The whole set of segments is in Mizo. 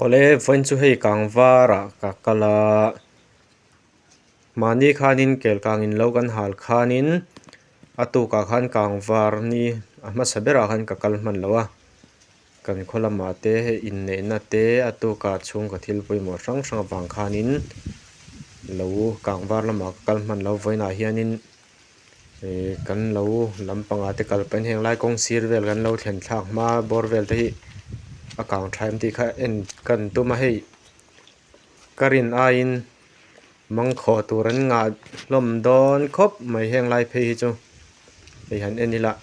Awle vawiin chu hei kang varah ka kal a, mahni khanin kel kang in lo kan hal khanin a tukah khan kang var ni a hmasa berah khan ka kal hman lo a, kan khaw lamah te hei inneihna te a tukah chhungkaw thil pawimawh hrang hrang avang khanin lo kang var lamah ka kal hman lo vawiinah hianin-- Ihh kan lo lam pangah te kal kan heng lai kawng sir vel kan lo thlen thlak hma bawr vel te hi a kang tha em tih kha en ka rawn tum a hei ka rin aiin mangkhawh tur an ngah hlawm dawn khawp mai heng lai phei hi chu hei han en ila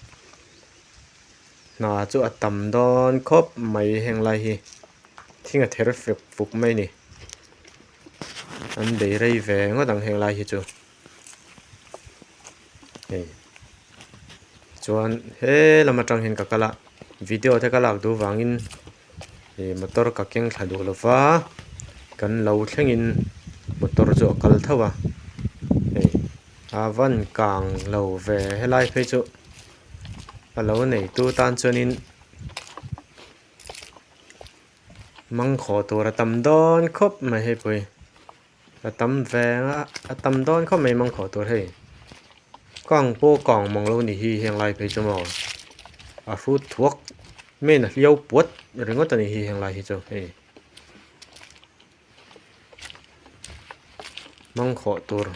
hna chu a tam dawn khawp mai heng lai hi thing a ther fek fuk mai a ni an bei rei ve ngawt ang heng lai hi chu. hei chuan he lam atang hian ka kal a video te ka lak duh vangin ih motor ka keng thla duh lova kan lo thlengin motor chu a kal thauh a hei a van kang lo ve helai phei chu a lo nei tu tan chuanin mangkhawh tur a tam dawn khawp mai hi pawh hi. A tam ve a a tam dawn khawp mai mangkhawh tur hei ka ang pawh ka ang mang lo ni hi heng lai phei chu maw a hrut thuak main a hliau puat ringawt a ni hi heng lai hi chu hei mangkhawh tur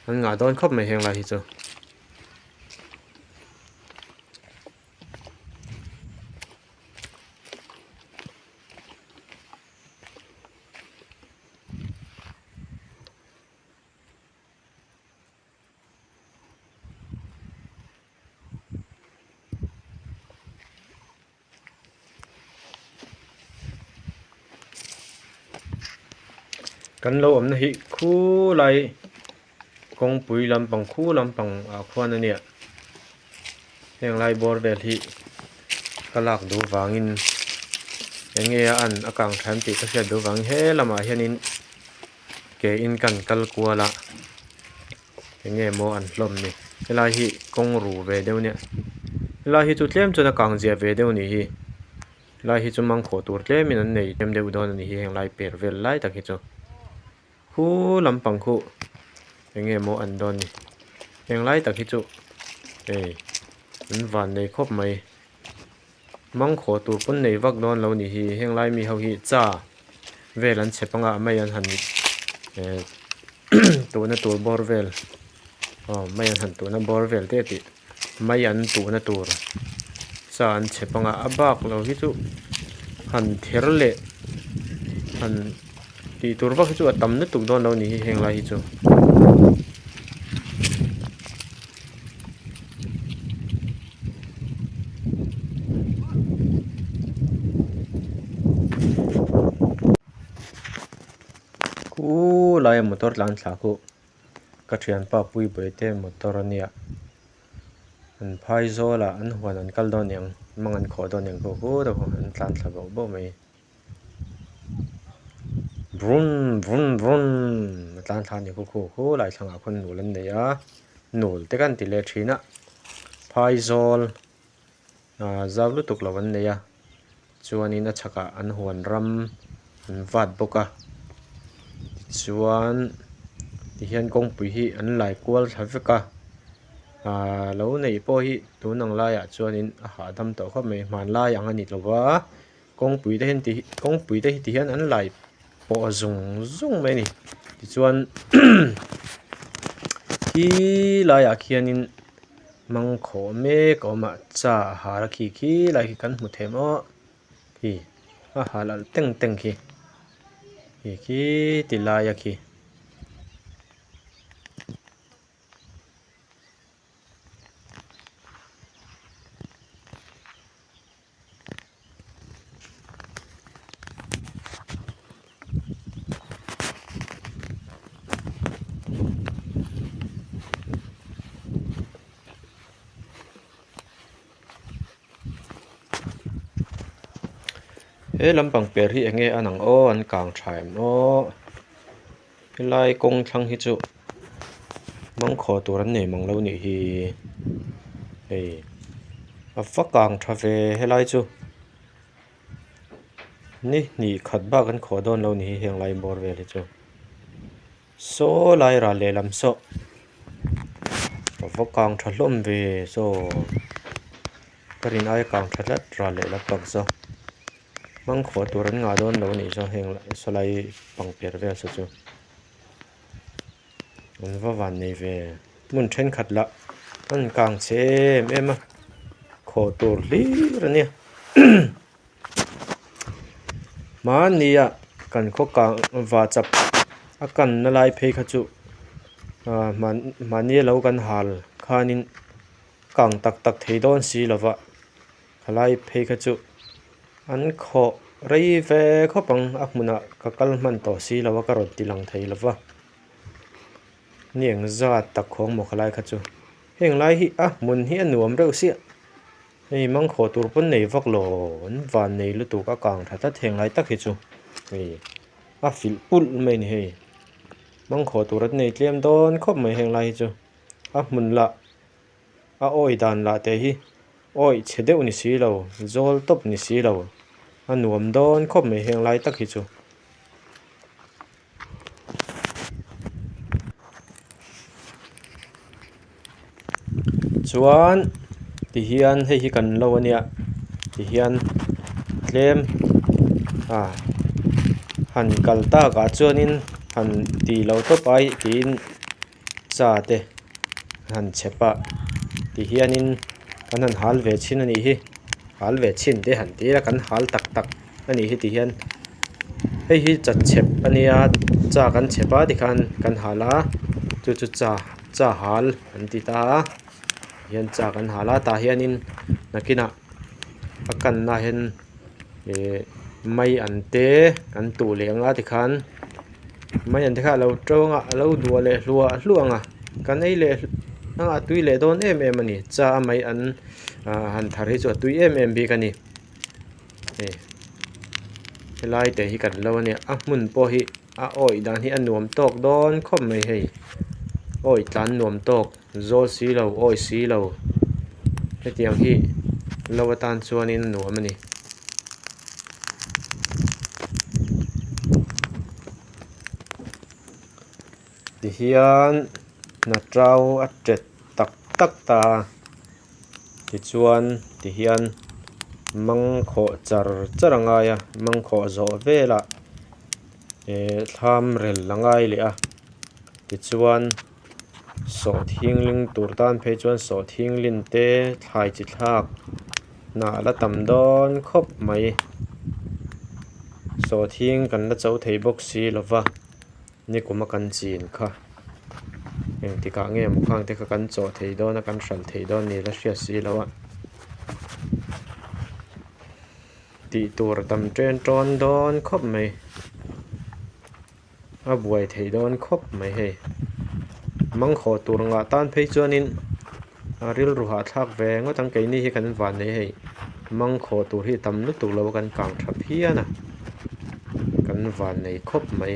an ngah dawn khawp mai heng lai hi chu. kan lo awmna hi khulai-- Kawngpui lampang khu lampang ah khuan a nia, heng lai bawr vel hi ka lak duh vang in eng nge a an a kang thiam tih ka hriat duh vang in he lam ah hian in ke in ka han kal kual a, eng nge maw an hlawm ni, he lai hi kawng ru ve deuh nia, he lai hi chu tlem chuan a kang ziah ve deuh a ni hi, lai hi chu mangkhawh tur tlem in an nei tlem deuh dawn a ni hi heng lai per vel lai tak hi chu. Hu lampang khuh enge maw an dawn ni? Heng lai tak hi chu hei an van nei khawp mai. Mang khaw tur pawn nei vak dawn lo ni hi. Heng lai mi ho hi cha vel an chhe panga mai an han eh tuhna tur bawr vel aw mai an han tuhna bawr vel teh tih. mai an tuhna tur cha an chhe panga a bak lo hi chu han ther leh han tih tur vak hi chu a tam lutuk dawn lo a ni hi heng lai hi chu. Ka thianpa Puibawi te motor a nia, an phai zawl a, an huan an kal dawn eng, an mang an khawh dawn eng pawh hu deuh ho, an tlan thla boh boh mai. Brum brum brum a tlan thla a ni khu khu khu lai thlang ah khawn nul an nei a, nul te kan ti leh thin a, phai zawl. Zau lutuk lo an nei a, chuanin a chhakah an huan ram an vat bawk a, tichuan tihian kawngpui hi an lai kual thla vek a, aaa lo neih pawh hi tun ang laiah chuanin a hahdam tawh khawp mai, hmanlai ang a ni tlova Kawngpuite hian ti kawngpuite hi ti hian an laiah pawh zung zung mai a ni tichuan khi laiah khianin mangkhawh mek a awm a cha a har a khi khi lai khi kan hmu thei maw a khi a har lalh teng teng khi khi khi ti lai a khi. he lam pang per hi eng nge a nang aw an kang tha em aww. Helai kawng thlang hi chu mangkhawh tur an nei mang lo nih hi hei a va kang tha ve helai chu ni hnih khat bak an khawh dawn lo nih hi heng lai bawr vel hi chu saw lai ral leh lam saw a va kang tha hlawm ve saw ka rin aia kang tha tlat ral leh lam takza. Mangkhua tur an ngah dawn lo anih zawng heng lah saw lai pangper vel saw chu an va van nei ve. Hmun thenkhat lah an rawn kang che em em a, khaw tur hlir a nia mahni a kan khaw kang va chap a kan na lai phei kha chu ah mahni a lo kan hal khan in kang tak tak thei dawn si lova. Khalai phei kha chu an khawh rei ve khawp ang, a hmunah ka kal hman tawh si lo a, ka rawn ti lang thei lo va, ni eng zat tak khawng maw khalai kha chu, heng lai hi a hmun hi a nuam reuh siah, hei mangkhawh tur pawn nei vak lo, an van nei lutuk a kang tha ta theng lai tak hi chu hei a filh pulh mai a ni hei, mangkhawh tur an nei tlem dawn khawp mai heng lai hi chu a hmun lah. A awi dan lah teh hi awih chhe deuh ni si lo, zawl tawp ni si lo, a nuam dawn khawp mai heng lai tak hi chu. Chuan tihian hei hi kan lo a nia tihian tlem a han kal takah chuanin han ti lo tawp ai tiin. Cha te han chep a ti hian in kan han hal ve chhin a nih hi hal ve chhin te han tir a kan hal tak tak a nih hi ti hian hei hi chat chep a nia cha kan chep a ti khan kan hal a chu chu cha cha hal an ti ta a ti hian cha kan hal a tah hian in hnakin ah a kan na ah hian-- mai an te kan tuh leh nga ti khan mai an te kha alo to anga alo duah leh hluah hluah anga kan ei leh anga a tui leh dawn em em a ni cha a mai an ah han thar hi chu a tui em em bik a ni hei helai te hi kan lo a nia a hmun pawh hi a awih dan hi a nuam tawk dawn khawp mai hei awih tlan nuam tawk. Zawl si lo, awi si lo, hetiang hi lo atan chuanin nuam a ni. Tihian Natrau a ṭet tak tak ta a, tichuan tihian mang khawh char char a ngai a, mang khawh zawh vela ehh thlam rel a ngai leh a, tichuan. Sawh thingling tur tan phei chuan sawh thinglin te thlai chi thlak na a la tam dawn khawp mai. Sawh thing kan la cho thei bawk si lo va, nikum a kan chin kha. Eng tik ah nge maw khang te kha kan chaw thei dawn a, kan hran thei dawn a nih la hriat si lo a. Tih tur a tam chen tawn dawn khawp mai. A buai theih dawn khawp mai hei. Mangkhawh tur ngah tan phei chuanin a rilru hahthlak ve ngawt ang. Keini hi kan van nei hei. Mangkhawh tur hi tam lutuk lo a kan kang tha phian a. Kan van nei khawp mai.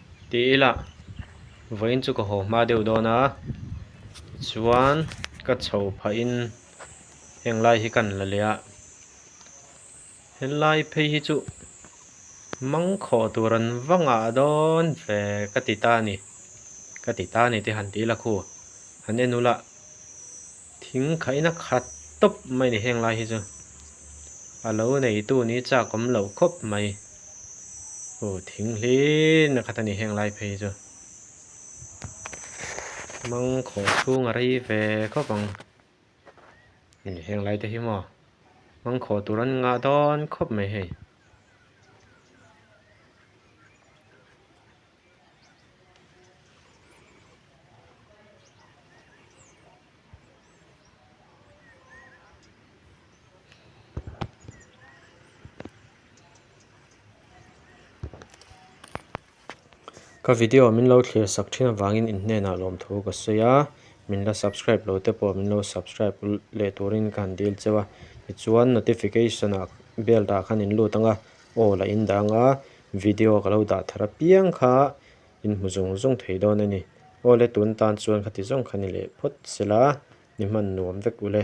Tih ila, vawiin chu ka haw hma deuh dawn a, tichuan ka chho phahin heng lai hi kan la leh a, helai phei hi chu mang khawh tur an va ngah dawn ve ka ti ta a ni, ka ti ta a ni te han ti ila khu, han en ula, Thing khaihna khat tawp mai ni heng lai hi chu a lo neitu ni chak awm lo khawp mai. Aw thing hlinna khat a ni heng lai phei hi chu. Hmang khaw chhung a rei ve khawp ang a ni heng lai te hi maw. Hmang khaw tur an ngah dawn khawp mai hei. Ka video min lo thlir sak thin avangin in hnenah lawmthu ka sawi a, min la subscribe lo te pawh min lo subscribe leh turin ka han dil cheu a, tichuan notification ah bell dah khan in lut ang a. Aw la indang a, video ka lo dah thar apiang kha in hmu zung zung thei dawn a ni. Aw le tun tan chuan kha ti zawng kha ni leh phawt se la, ni hman nuam vek u le.